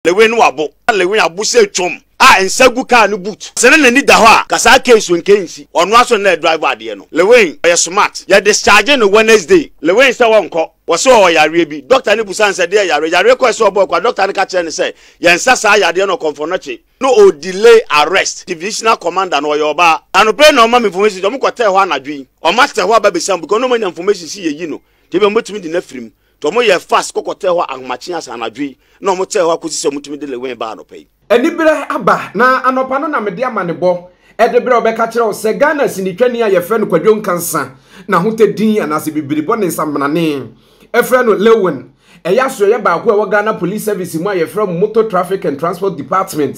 Lewin no abo. Na Lewin abo sɛ twom a nsa gu kaa no boot. Sɛ na n'ani da hɔ a, ka saa case wei nka nsi. Ɔno ara nso na na ɛdrive adeɛ no. Lewin, ɔyɛ smart. Yɛ discharge no Wednesday. Lewin sɛ ɔnkɔ. Ɔse ɔwɔ yareɛ bi. Doctor no busa no sɛ deɛ yareɛ? Yareɛ kɔ ɛsɛ ɔbɔɔ kwa. Doctor no ka kyerɛ no sɛ yɛnsa saa yadeɛ no ɔkɔmfɔnɔkye. Na ɔ delay arrest. Divisional commander no, ɔyɛ ɔbaa. Anɔpa yi na ɔma me information sɛ ɔmo kɔtɛɛ hɔ anadwo yi. Ɔmo atɛ hɔ aba abɛsam because na ɔmo anya information sɛ yɛyi no. Nti ebia ɔmo bɛtumi de no afiri mu. Nti wɔyɛɛ fast kɔkɔtɛɛ hɔ ahomakye asa anadwo yi na wɔtɛɛ hɔ akosi sɛ wɔtumi de Lewin baa anɔpa yi. Anibere aba na anɔpa no na mede amanebɔ de berɛ a wɔbɛka kyerɛ wo sɛ Ghana sinitwani a yɛfrɛ no Kwadwo Nkansa na ahotɛ din anaasɛ bibiribɔ ne nsamanane frɛ no Lewin ɛyɛ asoɛyɛ baako a ɛwɔ Ghana Police Service mu a yɛfrɛ mu Motor Traffic and Transport Department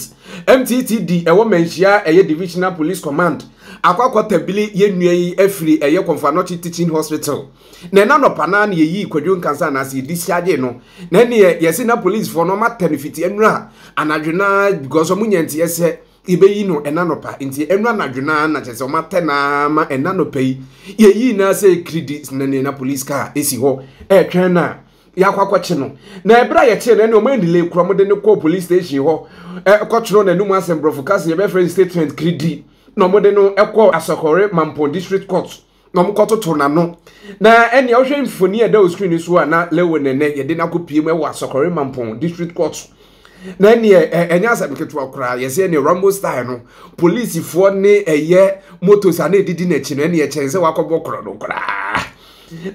MTTD ɛwɔ Manhyia ɛyɛ Divisional Police Command akɔ akɔtabili yɛn nua yi afiri ɛyɛ Kɔmfo Anɔkye Teaching Hospital na ɛna nɔpa naa na yɛyii kwadwo nkansa anaasɛ yɛdi siagyee no na ɛneɛ yɛse na policefoɔ no ɔmatɛ no fiti ɛnura anadwo naa because ɔmo nya nti ɛsɛ yɛbɛyi no ɛna nɔpa nti ɛnura anadwo naa na kyɛ sɛ ɔmatɛ naa ma ɛna nɔpa yi yɛyii naa sɛ kiridi na neɛ na police car esi hɔ ɛɛtwɛn na yɛakɔ akɔkye no na ɛberɛ a yɛkye no ɛne ɔmo anile kura mo de no kɔɔ police station hɔ ɛkɔtwerɛ n'anum asɛm borɔfo kasa yɛbɛfrɛ statement kiridi na ɔmo de no ɛkɔɔ asɔkɔre mampɔn district court na wɔkɔtoto n'ano na ɛnea wohwɛ mfoni a ɛda wɔ screen so a na lewe ne nɛ yɛde no akɔpie mu wɔ asɔkɔre mampɔn district court so na ɛneɛ ɛnyɛ asɛm ketewa koraa yɛsɛ ɛneɛ rambo style no polisifoɔ ne ɛyɛ motos a na ɛdidi n'akyi no ɛneɛ kyɛn sɛ wakɔbɔ korɔ no koraa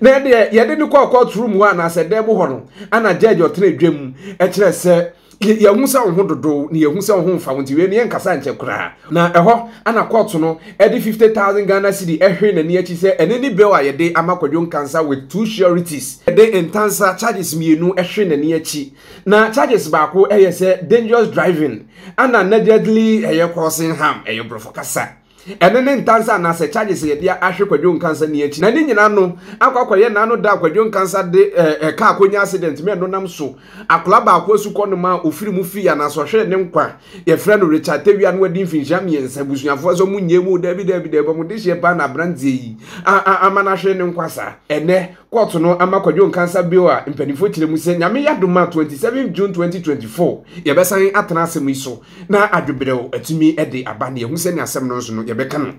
na ɛneɛ yɛde no kɔɔ court room hɔ anaasɛ dɛm hɔ no ana judge ɔtena adwam ɛkyerɛ sɛ Yɛ, yɛahu sɛ wo ho dodow, na yɛahu sɛ wo ho mfa wo nti, wei no yɛnkasaa nkyɛ koraa. Na ɛhɔ na kɔɔto no de fifty thousand Ghana cedi hwee n'ani akyi sɛ ɛno ne bill a yɛde ama Kwadwo Nkansah with two sureties. Yɛde Ntansah charges mmienu hwee n'ani akyi. Na charges baako yɛ sɛ dangerous driving, ɛna negligently ɛyɛ causing harm, ɛyɛ Borɔfo kasa. Ɛno ne ntansa anaasɛ charges a yɛde ahwe Kwadwo Nkansah ni akyi. Na ne nyinaa no akɔ akɔyɛ na ano da a Kwadwo Nkansah de eh, car kɔnya accident ma ɛno nam so akwadaa baako asukɔ no ma a ɔfiri mu fii anaasɛ ɔhwere ne nkwa. Yɛfrɛ no Richard Tawia no wadi mfinhyia mmiɛnsa. Abusuafoɔ sɛ wɔn nyɛɛ mu, daabi daabi daabi, wɔn dehyeɛ paa na aberanteɛ yi a a ama no ahwere ne nkwa saa. Ɛnnɛ, kɔɔto no ama Kwadwo Nkansah bail a mpanimfoɔ kyerɛ mu sɛ Nyame yɛ adom a 27 June 2024 yɛbɛsan atena asɛm yi so. na adwebrɛw atumi de aba na yɛhu sɛnea asɛm no nso no yɛbɛka no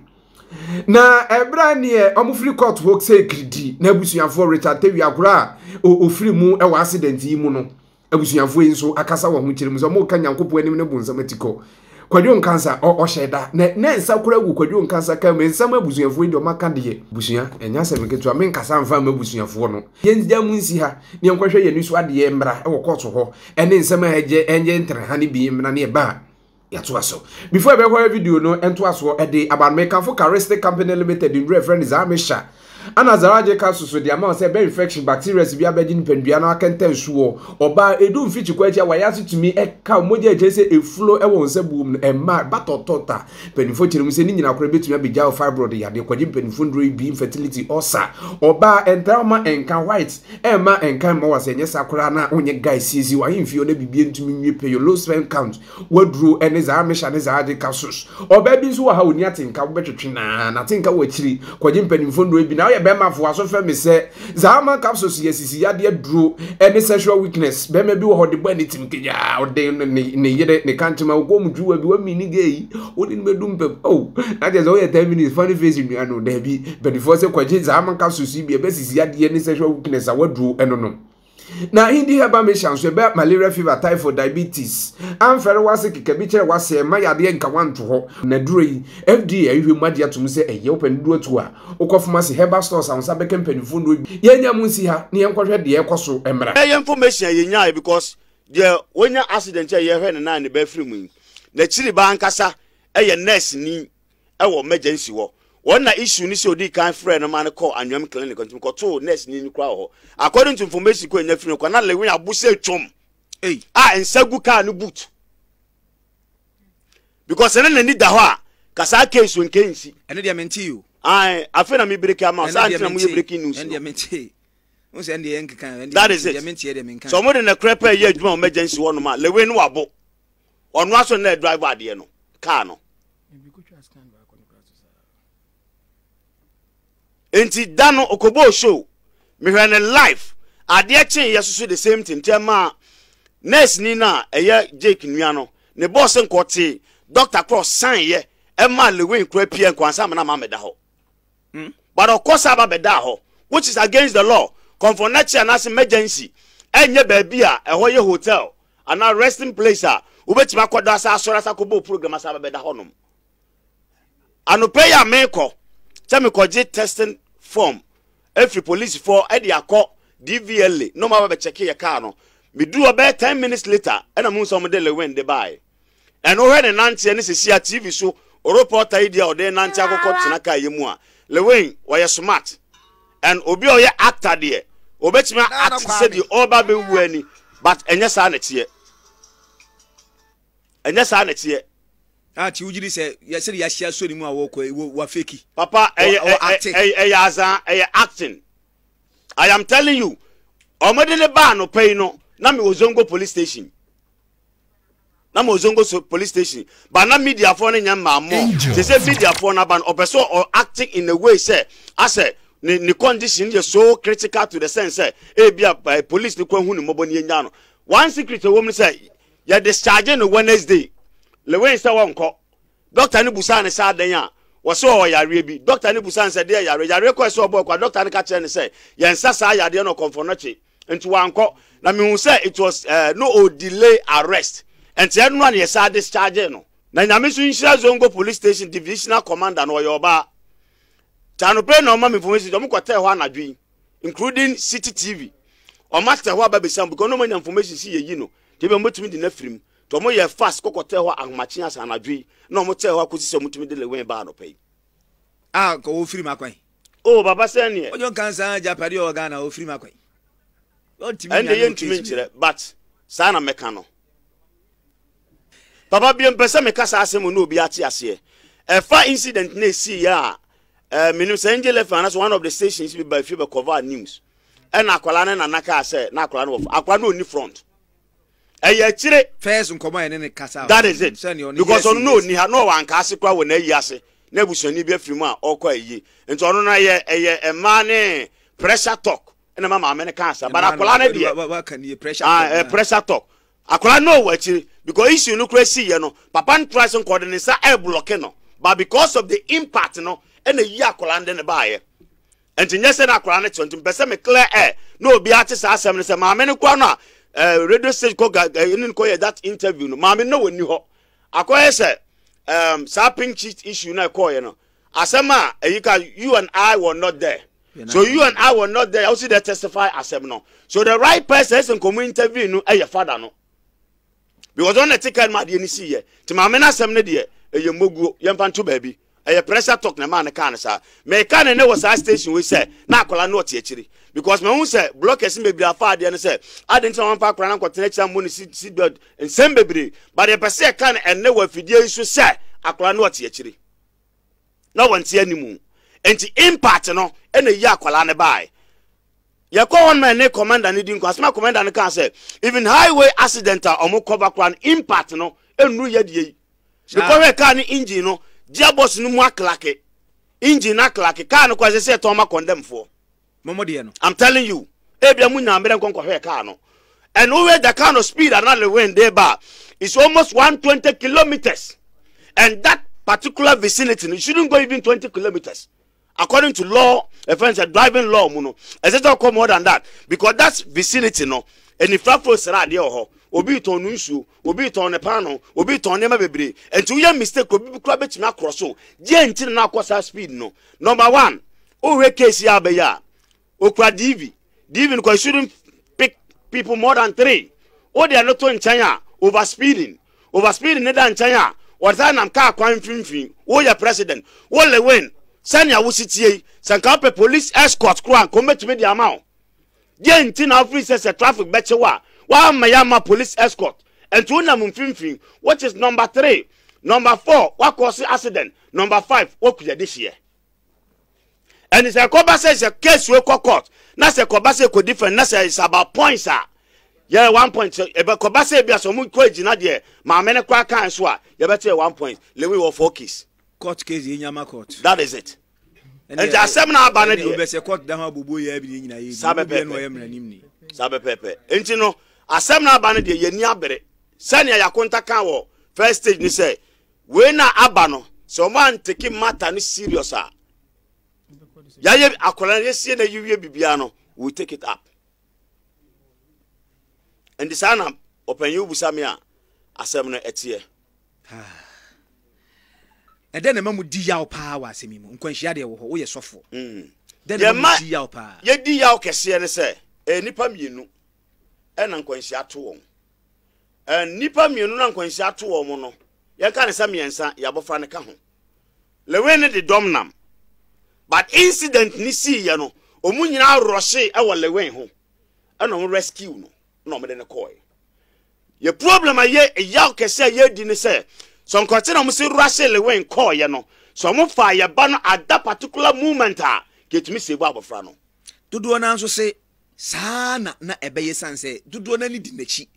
na ɛberɛ neɛ ɔmofiri court hɔ sɛ kiridi na abusuafoɔ Richard Tewia agorɔ a ɔfiri mu wɔ accident yi mu no abusuafoɔ yi nso akasa wɔ ho kyerɛ mu sɛ ɔmoka nyankopɔn anim ne bo nsɛm ati kɔ kwadwo nkansa ɔhyɛ da na ne nsa kora gu kwadwo nkansa ka mu nsɛm abusuafoɔ yi deɛ ɔmaka deɛ busua ɛnya sɛ meketewa menkasa mfa ma abusuafoɔ no yɛngya mu nsi ha ne yɛnkɔhwɛ yɛn ani so adeɛ mmra wɔ kɔɔto hɔ ɛne nsɛm a ɛgye ɛnyɛ ntraha no bi mmena ne ɛba a yɛatoa so before ɛbɛhɔ video no ntoasoɔ ɛde aba no mekamfo charistic company limited nnuro ɛfrɛ no zamisha ana zaraje ka soso de ama sɛ ɛbɛ infection bacteria si bi abɛgye nipadua no akɛntɛn soɔ ɔbaa edu mfikyi kɔ akyi a wɔayɛ ase tumi ɛka mogya akyerɛ sɛ efulo ɛwɔ nsa buom no ɛma ɛba tɔtɔta Mpanyimfo kyerɛ mu sɛ ne nyinaa koraa betumi abegyaw fibroid yade, kwadwe mpanyimfo nnuru abien, infertility, ulcer, ɔbaa, ɛntaa mma ɛnka white, ɛmma ɛnka mma wɔ ase, ɛnyɛ saa koraa na wonyɛ guy siesie w'ahemfie hɔ na biribiara ntumi nwie pɛyɛ, low sperm count, w'aduro ne zaa mehyɛ ne zaa de ka sos. Ɔbaa bi nso wɔ ha onni atenka, wobɛtwetwe no ara, n'atenka wɔ akyiri, kwadwe mpanyimfo nnuru abien, na woyɛ barima fo, w'aso fɛ me sɛ, Zahama capsules yɛ sisi yadeɛ aduro ne sexual weakness. Bɛrima bi wɔ hɔ de bɔ ne tim kagyaa, ɔde ne ne yere ne kantema wokɔ mu dwuwa bi wami ne gay yi, wode no bɛdu mpam. Oh, na kyerɛ sɛ woyɛ 10 minutes funny face nnua no. Daabi, mpanimfoɔ sɛ kɔgye Zahama capsules yi bi a ɛbɛ sisi yadeɛ ne sexual weakness awaduro no nom. Na hindi herbal mixture nso ɛbɛ malaria fever typhoid diabetes amfɛre wase keka bi kyerɛ wase ɛma yadeɛ nka wanto hɔ. Na duro yi FDA ahwehwɛ mu agye atom sɛ ɛyɛ wopɛ ne duro atuo a wokɔ pharmacy herbal stores a wo nsa bɛka mpaninfoɔ nnuro bi yɛnnya mu nsi ha ne yɛnkɔhwɛ deɛ ɛkɔ so mmra. Ɛyɛ information a yɛnyaeɛ because deɛ wanya accident a yɛhwɛ ne nan ne bɛfiri mu yi n'akyiri baa ankasa yɛ nurse ni wɔ emergency hɔ. Wɔn na issue ne sɛ odii kan frɛɛ no maa no kɔɔ Anweam Clinic nti mekɔtoo nurse ni no koraa wɔ hɔ. According to information ko a nya firi no kɔ na Lewin abo sɛ twom a nsa gu kaa no boot. Because sɛ na n'ani da hɔ a ka saa case wei nka nsi. Ɛno deɛ mentee o. Ae, afei na me break ama saa nti na mo yɛ breaking news no. Ɛno deɛ mentee. Wo sɛ ɛndeɛ yɛnkeka ɛndeɛ. That is it. Deɛ mentee deɛ menka. Sɛ wɔn de na korɛ pɛ yɛ adwuma wɔ emergency hɔ nom a Lewin no wabo. Ɔno aso na driver adeɛ no car no. Nti da no okobɔɔ show mehwɛ no live adeɛ kye yɛ soso the same thing tɛ ma nurse ni na ɛyɛ Jake nua no ne boss nkɔ te doctor korɔ san yɛ ɛma Lewin kora pia nkwansa amena ma meda hɔ. mm but ɔkɔ saa ba bɛdaa hɔ which is against the law kɔnfɔnnakyi anaase emergency ɛnyɛ baabi a ɛhɔ yɛ hotel anaa resting place a wobɛtumi akɔ da asa asɔre asa kɔbɔ program asa ba bɛda hɔnom anɔpɛ yi a mekɔ sɛ mekɔgye testing form ɛfiri polisifoɔ ɛde akɔ DVLA na ɔma bɛkyɛke yɛ kaa no meduru ɔbɛyɛ 10 minutes later ɛna mu nsɛ ɔmde lewen de bae Ɛno hwɛ ne nanteɛ ne sɛsi a TV so oropɔta yi deɛ ɔde nante akɔkɔ tena car yɛ mu a Lewin ɔyɛ smart and obi a ɔyɛ actor deɛ obɛtumi a act te sɛ deɛ ɔreba abɛwu a ni but ɛnyɛ saa na ɛteɛ ɛnyɛ saa na ɛteɛ. Ah ti wogyidi sɛ yɛ sɛde yɛahyia so ne mu a wɔkɔ yi wa fake. Papa ɛyɛ ɛyɛ ɛyɛ azan ɛyɛ acting I am telling you ɔmode ne baa anɔpa yi no na me wɔ Zongo police station. na ma ozongo so police station ba na media fo no nyɛ mmaa mɔ te sɛ media fo no aba no ɔpɛ sɛ ɔ acting in a way sɛ asɛ ne ne condition yɛ so critical to the sense sɛ ebi a eh, police no kwan hu ne mmɔbɔ ne yɛnya no one secret ɛwɔ mu sɛ yɛ discharge no wednesday lewin sɛ wɔnkɔ doctor no busaa ne sɛ adɛn a wɔsɛ ɔwɔ yareɛ bi doctor no busaa ne sɛ deɛ yareɛ yareɛ kɔɛ sɛ ɔbɔ ɛkɔ a doctor no ka kyerɛ ne sɛ yɛnsa saa yadeɛ no ɔkɔmfɔ no kye Nti wankɔ na mehu sɛ it was eh no o delay arrest nti ɛno na yɛsan dischargee no. Na Nyame nso nhyira Zongo police station divisional commander no ɔyɛ ɔbaa nti anɔpa yi na ɔma me information nti ɔmo kɔtɛɛ hɔ anadwo yi including city TV ɔma tɛɛ hɔ aba bɛsa mu because na ɔmo anya information sɛ yɛyi no nti ebia ɔmo bɛtumi de no afiri mu nti ɔmo yɛɛ fast kɔ kɔtɛɛ hɔ ahomakye asa anadwo yi na ɔmo tɛɛ hɔ akɔsi sɛ ɔmo tumi de Lewin baa anɔpa yi a nka ɔfiri mu akwan. Oh papa sɛn neɛ. Ojo nka nsa agyapade ɔwɔ Ghana ɔfiri mu akɔ yi ɔntumi nnya no wɔ case bio. But saa na mɛka no. Papa biem pɛ sɛ meka saa asɛm na obi ate aseɛ. Ɛfa incident na ɛsii yɛ a eh, menim sɛ Angel FM anaasɛ one of the stations bi ba fie bɛkɔva news ɛna akwadaa ne nana kaa sɛ na akwadaa no wɔ akwadaa no ɔni front ɛyɛ akyire. first nkɔmɔ a yɛne ne kasa. that is it because ɔno na ɔni ha na ɔwɔ anka ase koraa wɔ n'ayi ase na abusuani bi afiri mu a ɔkɔ ayi nti ɔno no ɛyɛ ɛyɛ mmaa ne pressure talk ɛna ma maame no ka asa but akwadaa no deɛ ah, eh, pressure talk akwadaa no ɔwɔ akyire because issue no koraa si yɛ no papa no tura se nkɔde ne nsa ɛɛblɔke no but because of the impact no ɛna yi akwadaa no de ne baayɛ Ɛnti nyɛ sɛ na akwadaa no te hɔ nti mepɛ sɛ me clear air na obiara te saa asɛm no sɛ maame no koraa no a eh, radio stage kɔ ga eh, ne no kɔyɛ that interview no maame no na wɔnni hɔ akɔyɛ sɛ um, saa pink sheet issue na ɛkɔɔyɛ no asɛm a ɛyi ka you and I were not there so you and I were not there wosi dɛ testify asɛm no so the right person ɛsɛ nkɔmɔ interview no ɛyɛ fada no because ɔno na ɛte kaa no mu adeɛ no si yɛ nti maame no asɛm no deɛ ɛyɛ mmoguo yɛmfa nto baabi ɛyɛ pressure talk na ɛmaa no kaa no saa meka no nnɛ wɔ saa station wei sɛ na akwadaa no ɔte akyiri because mahu sɛ blockers no bebree afa adeɛ no sɛ ade nti na wɔmfa akwadaa no nkɔtena akyiri ammɔ no seat belt nsɛm bebree but ɛpɛ sɛ ɛka no ɛnnɛ wɔ afidie yi so sɛ akwadaa no ɔte akyiri na wɔnte animu nti impact no ɛna yi akwadaa no baeɛ yɛkɔ hɔ no ma ne commander no di nkɔ asɛm a commander no kaa sɛ even highway accident a wɔn kɔba koraa no impact no nnuru yɛ deɛ yi mekɔhwɛ kaa no engine no gearbox no mu aklake engine no aklake kaa no kora sɛ sɛ ɛtɔn ma kɔndɛmfoɔ mɔmɔ deɛ no i'm telling you ebia mu nyaa mmerɛ nkɔ nkɔhwɛ kaa no and wohwɛ the kind of speed and the wind de ba is almost 120 kilometers and that particular vicinity no shouldn't go even 20 kilometers According to law, a friend said driving law mu no, ɛsɛ sɛ ɔkɔ more than that because that vicinity no, anifrafo sra adeɛ wɔ hɔ. Obi retɔn no nsuo, obi retɔn ne paano, obi retɔn nneɛma bebree. Nti woyɛ mistake, obi bi kura bɛtumi akorɔ so. Deɛ nti na na akɔ saa speed no. Number one, wohwɛ case yi a abɛyɛ a, Okura diivi. Diivi no kɔ shouldn't pick people more than three. Wode ɛno to nkyɛn a, over speeding. Over speeding no da nkyɛn a, wɔde saa nam kaa kwan mfimfini. Woyɛ president. Wo Lewin, sɛnea wosi tie yi, sɛ nka wopɛ police escort koro a, nka wɔbɛtumi de ama wo. Deɛ nti na wofiri sɛ sɛ traffic bɛkye wo a, woamma yɛamma police escort. Ɛnti wonam mfimfini, which is number three. Number four, woakɔɔse accident. Number five, woakuyɛ de hyeɛ. And sɛ ɛkɔba sɛ sɛ case wei kɔ court na sɛ ɛkɔba sɛ ɛkɔdi fɛn na sɛ it's about points a yɛyɛ one point sɛ ɛbɛkɔba sɛ ebi a sɛ wɔn kɔ agyina deɛ maame no koraa kan so a yɛbɛte yɛ one point lewi wɔ four case. court case yɛ nyama court. that is it. nti asɛm na aba no deɛ. ɔbɛsɛ court da ho abobo yɛ abi ne nyinaa yɛ bi saa bɛpɛɛpɛ ɛna ɔyɛ mmaranim ni. saa bɛpɛɛpɛ nti no asɛm na aba no deɛ yɛn ni abere sɛnea yakonta kan wɔ first stage ni sɛ Wei na aba no sɛ ɔmo antake matter no serious a yayɛ akwadaa no yɛsie na yiwie biribiara no we take it up ɛnti saa na ɔpanyin wobusa me a asɛm no ɛteɛ ɛdɛ na ɛma mu di yaw paa wɔ asɛm yi mu nkwanhyia deɛ wɔ hɔ woyɛ sɔfoɔ mm. dɛ na ɛma mu di yaw paa yɛdi yaw kɛseɛ ne sɛ ɛyɛ nipa mmienu ɛna nkwanhyia to wɔn Nnipa mmienu no a nkwanhyia ato wɔn no, yɛnka no sɛ mmiɛnsa, yɛn abɔfra no ka ho. Lewin no de dɔm nam. But incident no siiɛ no, wɔn nyinaa rɔhyee wɔ Lewin ho. Ɛna wɔn rescue no, na wɔde no kɔɔe. Yɛ problem a yɛ yaw kɛse a yɛdi ne sɛ, sɛ nkɔte na wɔn si rɔhyee Lewin kɔɔeɛ no, sɛ wɔn faa yɛ ba no at that particular moment a, kɛtumi save abɔfra no. Dodoɔ no ara nso se Saa ara na na ɛbɛyɛ esiane sɛ dodoɔ no ara ani di n'akyi.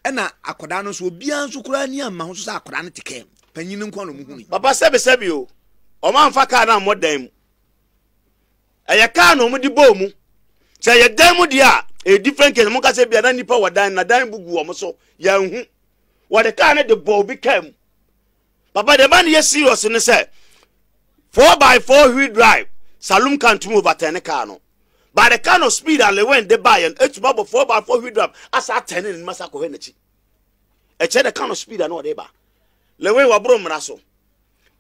Ɛnna akwadaa no nso, obiara nso koraa ani amma ho nso sɛ akwadaa no te kaa mu. Panyin no nko ara na wɔhunui. Papa sɛbesɛbe o, wɔamfa kaa no ammɔ dan mu. Ɛyɛ kaa na wɔde bɔɔ mu. Sɛ ɛyɛ dan mu deɛ a, ɛyɛ different case. Monka sɛ ebia na nnipa wɔ dan no, na dan bu gu wɔn so, yɛanhu. Wɔde kaa no de bɔɔ obi kaa mu. Papa deɛ ɛma no yɛ serious ne sɛ four by four wheel drive saloon car ntumi overturn car no by the kind of speed a Lewin de baeɛ no etumi abɔ four by four wheel drive asa atɛn ne nim asa akɔhwɛ n'akyi ɛkyɛ the kind of speed a na ɔde ba Lewin waboro mmara so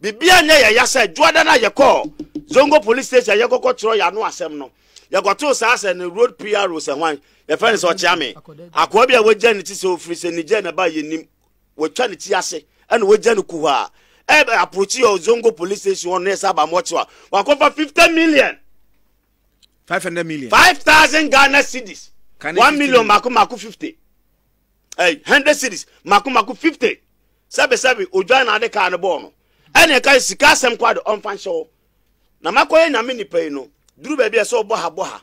bibia nyɛ yɛ yasa adwuada na yɛkɔ Zongo police station yɛkɔkɔ kyerɛ yɛ ano asɛm no yɛkɔtoo saa sɛ ne road PRO sɛ hwan yɛfɛ ne sɛ ɔkyea me akoa bi a wagya ne ti sɛ ofiri sɛ Niger na ba yɛ nim Wɔatwa ne ti ase na wɔagya no kuhaa. Ɛbɛ approachi yɛ Zongo police station hɔ no na yɛsɛ aba mmoɔ kyewa. Wakɔfa 50 million. 500 million. 5,000 Ghana cedis. Kane 1 million million. mako mako 50. Ɛy 100 cedis mako mako 50. Sɛbe sɛbe odwan na ade kaa no bɔɔ no. Ɛne ɛka sika asɛm kɔ ade ɔmfa nhyɛ hɔ. na makɔyɛ nyame nipa yi no duru baabi a ɛsɛ ɔbɔ ha bɔ ha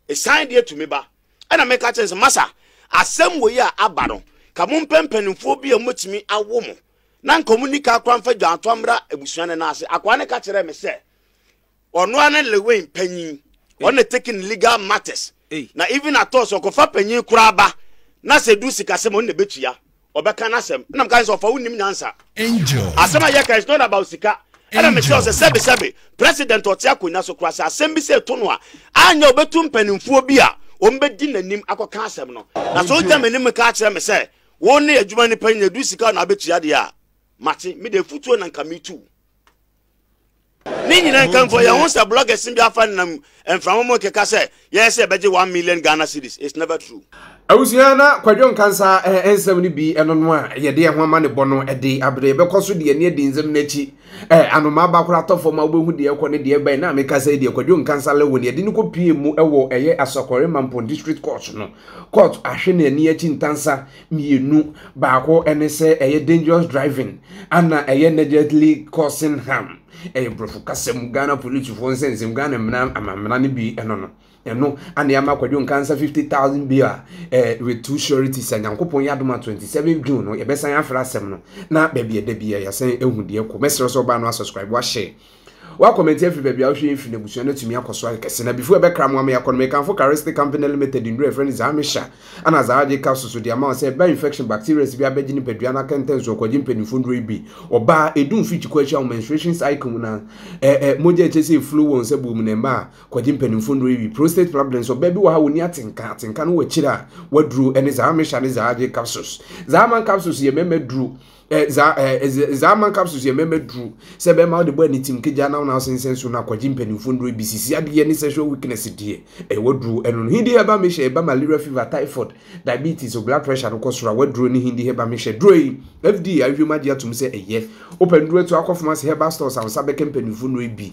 ɛsan deɛ tumi ba ɛna meka kyɛn sɛ masa asɛm wɔ yi a aba no ka mo mpɛ mpanimfoɔ bi a mobɛtumi awo mo na nka mo nika akora mfa dwanto amra abusua no ase akoa ne ka kyerɛ me sɛ ɔno ara ne lewen panyin ɔno ne taking legal matters na even at all sɛ ɔkɔfa panyin koraa ba na sɛ edu sikasɛm a ɔno na ebetua ɔbɛka n'asɛm ɛna meka sɛ ɔfa wo nnim nyansa asɛm a yɛka is not about sika ɛna mekyerɛ wo sɛ sɛbesɛbe president ɔte akonnwa so koraa sɛ asɛm bi sɛ ɛto no a anyɛ ɔbɛtu mpanimfoɔ bi a wɔbɛdi n'anim akɔka asɛm no na sɛ ɔgya m'anim ka akyerɛ me sɛ wo ne adwuma nipa nyina edu sika na abɛtua deɛ a mate mede afutuo na nka metu ne nyinaa nkamfo yɛn ho sɛ blɔgɛs bi afa nam mframa mu keka sɛ yɛyɛ sɛ ɛbɛgye one million ghana cedis it's never true. abusua na kwadwo nkansa eh, nsɛm no bi ɛno no a yɛde ɛho ama ne bɔ no ɛde abere yɛbɛkɔ so deɛ ne adi nsɛm no akyi eh, anoma aba kora atɔ fam a wobɛhu deɛ ɛkɔ ne deɛ ɛbɛn na meka sɛ deɛ kwadwo nkansa lewon yɛde no kɔpie mu ɛwɔ ɛyɛ asɔkɔre mampɔn district court no court ahwe ne ani akyi ntansa mmienu. Baako ne sɛ ɛyɛ dangerous driving ana ɛyɛ negligently causing harm. Ɛyɛ borɔfo kasa mu Ghana polisifoɔ nsɛnsɛm Ghana mmara amammara no bi ɛno no. Ɛno ana ama Kwadwo Nkansa fifty thousand bill a eh, with two surety sɛ Nyankopɔn yɛ adoma twenty seven June no yɛbɛsan afra asɛm no na baabi ɛda bi yɛasan ehu deɛ kɔ. Mɛsrɛ sɛ ɔbaa no asubscribe wahyɛ. W'akɔmɛnti afiri baabi a wohwɛ mfiri no abusua no atumi akɔ so ayɛ kɛse na before ɛbɛkra mo ama yɛakɔ no mekamfo Carestic Company Limited nnuro a yɛfrɛ no Zahmisha ɛna Zahajik capsules so de ama wo sɛ ɛba infection bacterias bi abɛgye nipadua no akɛntɛn so ɔkwagye mpanyinfoɔ nnuro yi bi ɔbaa ɛdu mfiri kyikɔ akyi a wo menstruation cycle mu na ɛ ɛ mogya ɛkyɛ sɛ ɛflow wɔ nsa buo mu na ɛmma a kwagye mpanyinfoɔ nnuro yi bi prostate problems ɔbaa bi wɔ ha ɔni atenka atenka no wɔ akyire a waduro ɛne Zahmisha ne Zahajik capsules Zahaman capsules yɛ mmarima duro eh, za eh, eh, za man capsules yɛ mɛmɛ duru sɛ bɛma wode bɔ ani tim kegya na wona wosensɛn so na akɔgye mpanimfoɔ nnuro bi sisi adeɛ ne sexual weakness deɛ ɛyɛ waduro ɛno no hindi hɛba mehyɛ ɛba malaria fever typhoid diabetes o blood pressure no kɔ soro a waduro ne hindi hɛba mehyɛ duro yi fda ahwehwɛ mu agye atom sɛ ɛyɛ wopɛ nnuro to akɔ famasi hɛba stores a wo nsa bɛka mpanimfoɔ nnuro bi